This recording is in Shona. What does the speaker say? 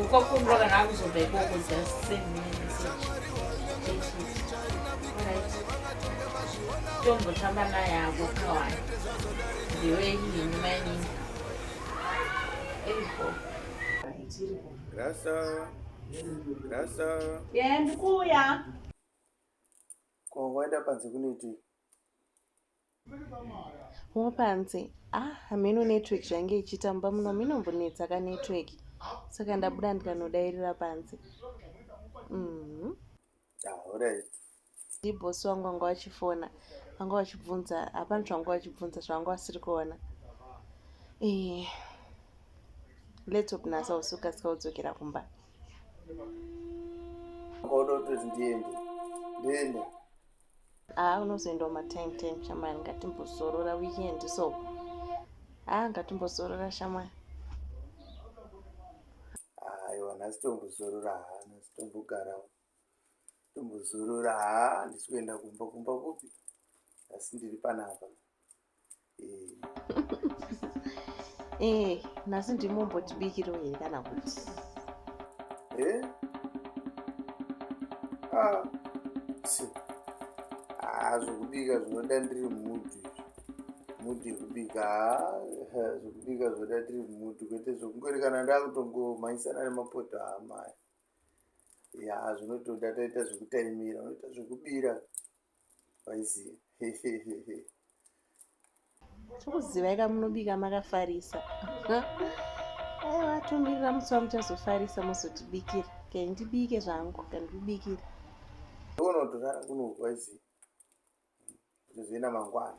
ukwakumbwa kana akuzobva ikoko just send me message tombotamba naye ako kawana ndiwe nini mainini eiko rasa rasa ye ndikuuya ko waenda panze kunoitii Mupanzi, ah hameno network zvainge ichitamba muno minombonetsa ka network saka ndabuda ndikanodairira panze mm. ndibosi wangu vanga vachifona vanga vachibvunza hapana zvavanga vachibvunza zvavanga vasiri kuona ee eh, laptop nasa usuka sika udzokera kumba kodototi ndiende ndiende haa unozoendawo matime time shamwari ngatimbozorora weekend so haa ngatimbozorora shamwari aiwa nhasi tombozorora haa nhasi tombogarawo tombozorora haa handisi kuenda kumba kumba kupi asi ndiri panapa ee eh, nhasi ndimombotibikiro here kana kuti eh? ah, ah, zvokubika zvinoda ndiri mudhu mudhu yekubika ah, zvokubika zvoda ndiri mudhu kwete zvokungorekana ndakutongomhanyisana nemapoto amaya ya zvinotoda taita zvekutaimira unoita zvekubira vaiziva hehehehe tokuzivai kamunobika makafarisa aiwa tomirira musi wamuchazofarisa mozotibikira kai ndibike zvangu kandikubikira unotorara kuno vaiziva zvozoenda mangwana